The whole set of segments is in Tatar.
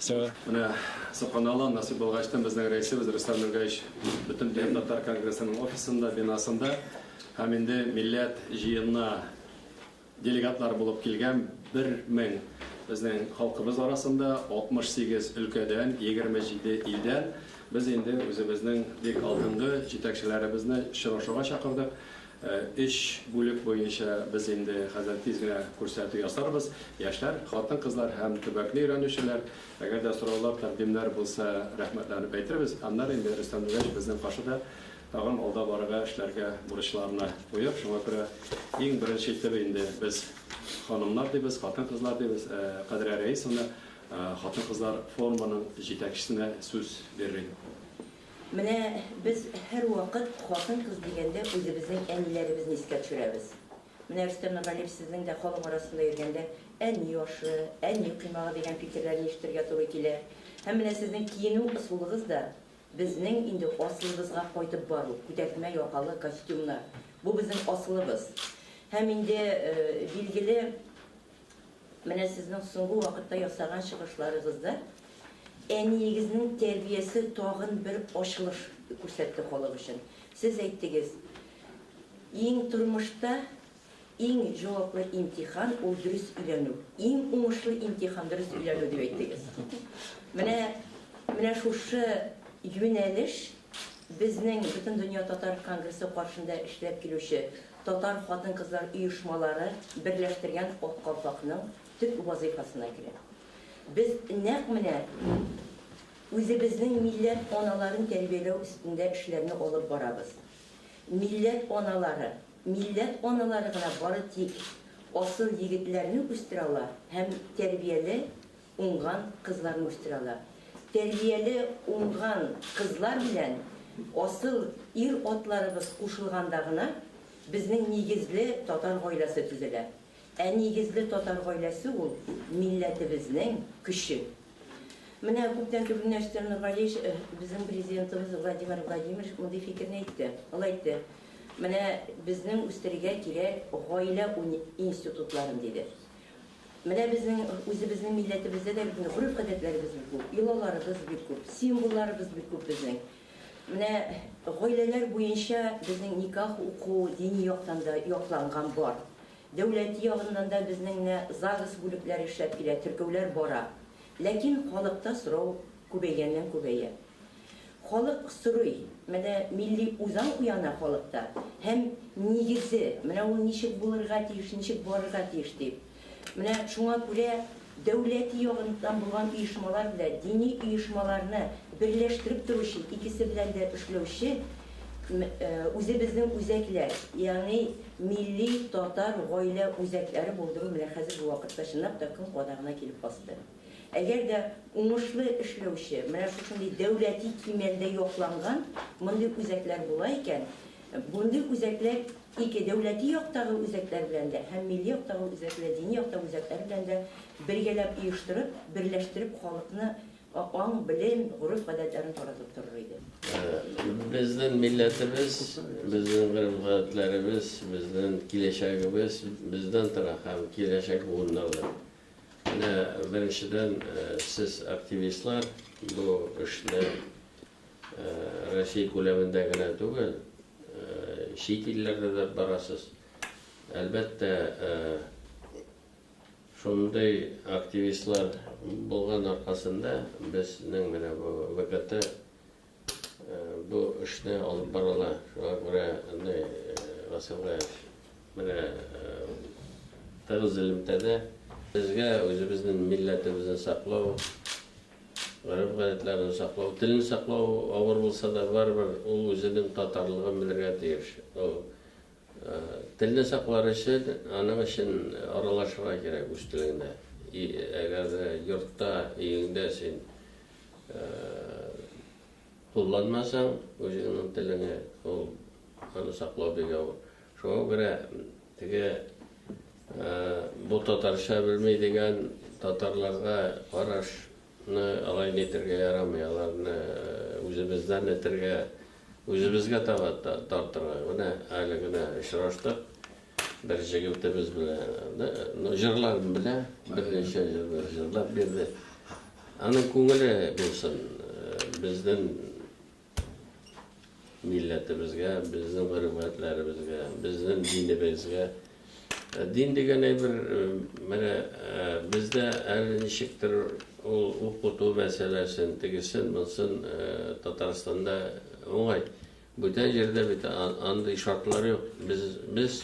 Все. Менә Суханала насыйп булгачтан безнең рәисебез Рөстәм Нургаевич бөтен депутатлар конгрессының офисында, бинасында һәм инде милләт җыенына делегатлар булып килгән 1000 безнең халкыбыз арасында 68 өлкәдән, 27 илдән без инде үзебезнең бик алдынгы җитәкчеләребезне очрашуга чакырдык. Өч бүлек буенча без инде хәзер тиз генә күрсәтү ясарбыз. Яшьләр, хатын-кызлар һәм төбәкне өйрәнүчеләр. Әгәр дә сораулар, тәкъдимнәр булса, рәхмәтләнеп әйтербез. Аннары инде Рөстәм Нуриевич безнең каршыда тагын алда барырга, эшләргә, бурычларына куеп, шуңа күрә иң беренче итеп инде без ханымнар дибез, хатын-кызлар дибез, Кадрия Рәисовна хатын-кызлар форумының җитәкчесенә сүз бирерг. Менә без һәрвакыт хатын-кыз дигәндә үзебезнең әниләребезне искә төшерәбез. Менә Рөстәм Нургалиев сезнең дә халык арасында йөргәндә әни ашы, әни коймагы дигән фикерләрне ишетергә туры килә. Һәм менә сезнең киенү ысулыгыз да безнең инде асылыбызга кайтып бару, күтәртмә якалы костюмнар. Бу безнең асылыбыз. Һәм инде билгеле Менә сезнең соңгы вакытта ясаган чыгышларыгызда әниегезнең тәрбиясе тагын бер ачылыш күрсәтте халык өчен. Сез әйттегез, иң тормышта иң җаваплы имтихан ул дөрес өйләнү. Иң уңышлы имтихан дөрес өйләнү дип әйттегез. Менә менә шушы юнәлеш безнең бөтен дөнья татар конгрессы каршында эшләп килүче татар хатын-кызлар оешмалары берләштергән Ак калфакның төп вазыйфасына керә. Без нәкъ менә үзебезнең милләт аналарын тәрбияләү өстендә эшләрне алып барабыз. Милләт аналары, милләт аналары гына бары тик асыл егетләрне үстерә ала һәм тәрбияле, Уңган кызларны үстерәләр. Тәрбияле уңган кызлар белән асыл ир-атларыбыз кушылганда гына безнең нигезле татар гаиләсе төзелә. Ә нигезле татар гаиләсе ул, милләтебезнең көче. Менә күптән түгел Нәрсә Нургалиевич, безнең Президентыбыз Владимир Владимирович мондый фикерне әйтте. Ул әйтте, Менә безнең үстерергә кирәк гаилә институтларын, диде. Менә безнең үзебезнең милләтебездә дә бит инде гореф-гадәтләребез бик күп, йолаларыбыз бик күп, символларыбыз бик күп безнең. Менә гаиләләр буенча безнең никах уку дини яктан да якланган бар. Дәүләти ягыннан да безнең менә ЗАГС бүлекләре эшләп килә, теркәүләр бара. Ләкин халыкта сорау күбәйгәннән-күбәя. Халык сорый, менә милли үзаң уяна халыкта һәм нигезе, менә ул ничек булырга тиеш, ничек барырга тиеш дип. Менә шуңа күрә дәүләти ягыннан булган оешмалар белән дини оешмаларны берләштереп торучы, икесе белән дә эшләүче үзебезнең үзәкләр, ягъни милли татар гаилә үзәкләре булдыру менә хәзерге вакытта чынлап та көн кадагына килеп басты. Әгәр дә уңышлы эшләүче, менә шушындый дәүләти кимәлдә якланган мондый үзәкләр була икән, мондый үзәкләр ике дәүләти яктагы үзәкләр белән дә һәм милли яктагы үзәкләр, дини яктагы үзәкләр белән дә бергәләп оештырып, берләштереп халыкны аң, белем, гореф-гадәтләрен таратып торыр иде. Безнең милләтебез, безнең гореф-гадәтләребез, безнең киләчәгебез бездән тора һәм киләчәк буыннардан. Менә беренчедән, сез активистлар бу эшне Россия күләмендә генә түгел, чит илләрдә дә барасыз. Әлбәттә, шундый активистлар булган аркасында безнең менә бу ВКТ Бу эшне алып баралар, шуңа күрә андый мәсьәлә менә тыгыз элемтәдә. Безгә үзебезнең милләтебезне саклау, гореф-гадәтләрне саклау, телне саклау авыр булса да, барыбер ул үзенең татарлыгын белергә тиеш. Ул телне саклар өчен, аның өчен аралашырга кирәк үз телеңдә. И әгәр дә йортта, өеңдә син Кулланмасаң, үзеңнең телеңе, ул аны саклау бик авыр. Шуңа күрә теге бу татарча белми дигән татарларга караш ны алай нитергә ярамый, аларны үзебездән этергә, үзебезгә таба тартырга. Менә әле генә очраштык, Бер җегетебез белән җырларын белә, берничә җырлар җырлап бирде. Аның күңеле булсын, безнең милләтебезгә, безнең гөрбәтләребезгә, безнең динебезгә. Дин дигән әйбер, менә бездә әле ничектер ул укыту мәсьәләсен, тегесен, монысын Татарстанда уңай. Бүтән җирдә бит андый шартлар юк. Без, без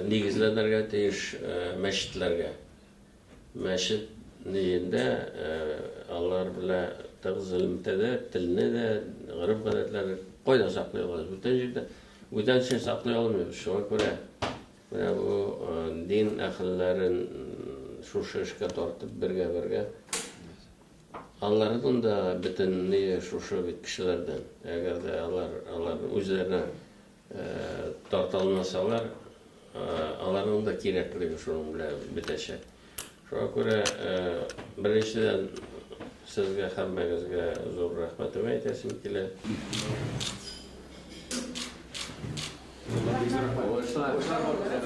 нигезләнергә тиеш мәчетләргә. Мәчет нигендә алар белә тыгыз элемтә дә, телне дә, гореф-гадәтләрне кайда саклый алабыз? Бүтән җирдә. Бүтән җир саклый алмыйбыз. Шуңа күрә менә бу дин әһелләрен шушы эшкә тартып бергә-бергә Алардан да бөтенләй шушы бит кешеләрдән. Әгәр дә алар алар үзләренә тарта алмасалар, аларның да кирәклеге шуның белән бетәчәк. Шуңа күрә беренчедән сезгә һәммәгезгә зур рәхмәтемә әйтәсем килә. Уңышлар!